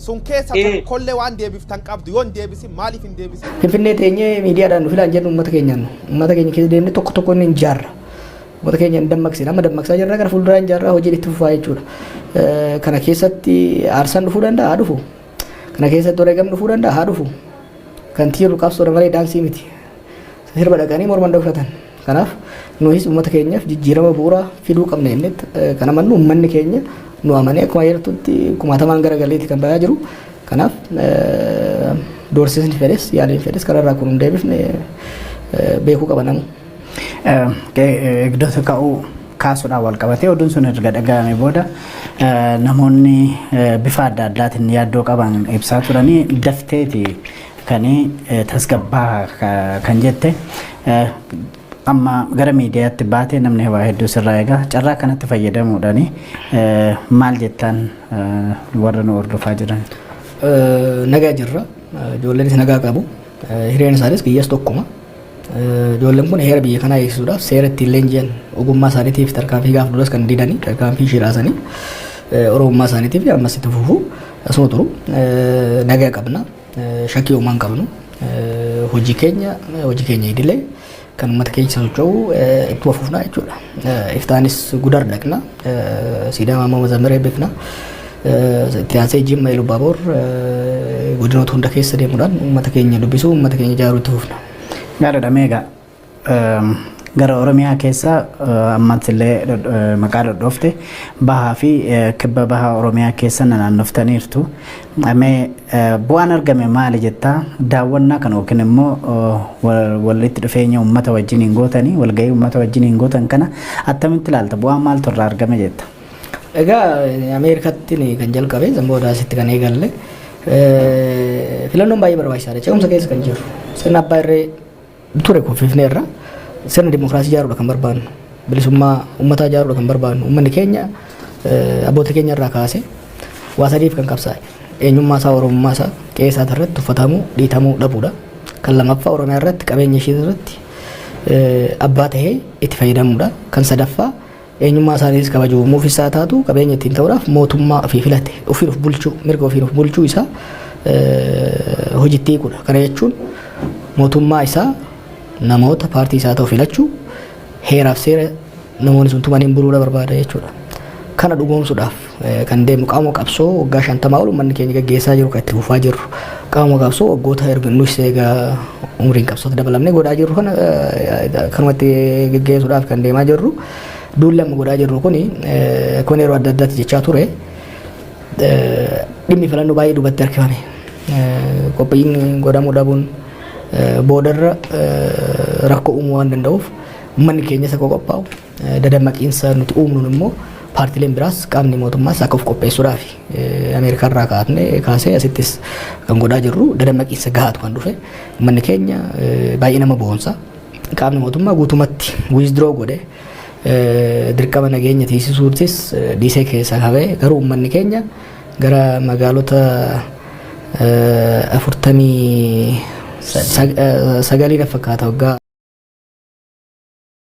sun keessa Eh. tokkollee waan deebiftan qabdu yoo hin deebisin maaliif hin deebisin Finfinnee teenyee miidiyaadhaan nu filaan jennu uummata keenyaan uummata keenya keessa deemnee tokko tokko inni hin jaarra. Uummata keenya hin dammaqsina amma dammaqsaa jirra gara fuulduraa hin jaarra hojiin itti fufaa jechuudha. Eh, Kana keessatti aarsaan dhufuu danda'a haa dhufu. Kana keessatti wareegamni dhufuu danda'a haa dhufu. Kan tiirru qabsoodha malee daansii miti. Sirba dhaqanii morma hin dhokfatan. Kanaaf nuhis uummata keenyaaf jijjiirama bu'uuraa fiduu qabna jennee kan amannu uummanni keenya nu amanee akkuma jirtutti kumaatamaan gara galeetti kan bayaa jiru. Kanaaf doorsisni fedhes yaaliin fedhes kanarraa kun hin deebifne beekuu qaba namni. Eegdota ka'uu kaasuudhaan wal qabatee oduun sun erga dhaga'ame booda namoonni bifa adda addaatiin yaaddoo qaban ibsaa turanii dafteeti kan tasgabbaa kan jette amma gara miidiyaatti baatee namni waa hedduu sirraa egaa carraa kanatti fayyadamuudhaan maal jettaan warra nu hordofaa jiran. Nagaa jirra ijoolleen nagaa qabu hireen isaanis biyyas tokkuma. Ijoolleen kun heera biyya kanaa eegsisuudhaaf seera ittiin leenji'an ogummaa isaaniitiif tarkaanfii gaafa duras kan didanii tarkaanfii shiraasanii oromummaa isaaniitiif ammas itti fufu asuma turu nagaa qabna shakkii uumaa hin qabnu hojii keenya hojii keenya idilee kan uummata keessa socho'u ittuma fufna jechuudha. Iftaanis gudar dhaqna. Siidaa Maammoo Mazammir eebbifna. Itti aansee Jimma Ilubaaboor godinoota hunda keessa deemuudhaan uummata keenya dubbisuu, uummata keenya ijaaruu itti fufna. Gaariidha meegaa gara Oromiyaa keessa ammatti illee maqaa dhodhoofte bahaa fi kibba baha Oromiyaa keessa naannoftaniirtu. Mee bu'aan argame maali jetta? Daawwannaa kana yookiin immoo walitti dhufeenya uummata wajjin hin gootanii walgahii uummata wajjin hin gootan kana attamitti ilaalta? Bu'aan maaltu irraa argame jetta? Egaa Ameerikaatti kan jalqabe san booda asitti kan eegalle filannoon baay'ee barbaachisaadha. Ce'umsa keessa kan jiru sirna abbaa irree ture kuffifneerra sirna dimokiraasii ijaaruudha kan barbaannu bilisummaa ummataa ijaaruudha kan barbaannu ummanni keenya abboota keenya irraa kaase waa sadiif kan qabsaa'e eenyummaa isaa oromummaa isaa qe'ee isaa irratti uffatamuu dhiitamuu dhabuudha kan lamaffaa oromiyaa irratti qabeenya ishee irratti abbaa tahee itti fayyadamuudha kan sadaffaa Eenyummaa isaaniitis kabaju uumuuf isaa taatu qabeenya ittiin ta'uudhaaf mootummaa ofii filate ofiin of bulchuu mirga ofiin of bulchuu isaa hojitti hiikudha. Kana jechuun mootummaa isaa namoota paartii isaa ta'u filachuu heeraaf seera namoonni sun tumaniin buluudha barbaada jechuudha. Kana dhugoomsuudhaaf Kan deemnu qaama qabsoo waggaa shantamaa ol uummanni keenya gaggeessaa jiru kan itti fufaa jirru qaama qabsoo waggoota erga nus eega umriin qabsootti dabalamnee godhaa jirru kana kanumatti gaggeessuudhaaf kan deemaa jirru duulli amma godhaa jirru kun kun yeroo adda addaatti jechaa ture dhimmi filannoo baay'ee duubatti harkifame qophiin godhamuu dhabuun boodarra rakkoo uumuu waan danda'uuf uummanni keenya isa qophaa'u Dadammaqiinsa nuti uumnuun immoo paartileen biraas qaamni mootummaas akka of qopheessuudhaaf Ameerikaa irraa kaatne kaasee asittis kan godhaa jirru dadammaqiinsa gahaatu kan dhufe uummanni keenya baay'ee nama boonsa qaamni mootummaa guutumatti wiizdroo godhe dirqama nageenya tiisisuutis dhiisee keessaa hawee garuu uummanni keenya gara magaalota afurtamii sagalii na fakkaata waggaa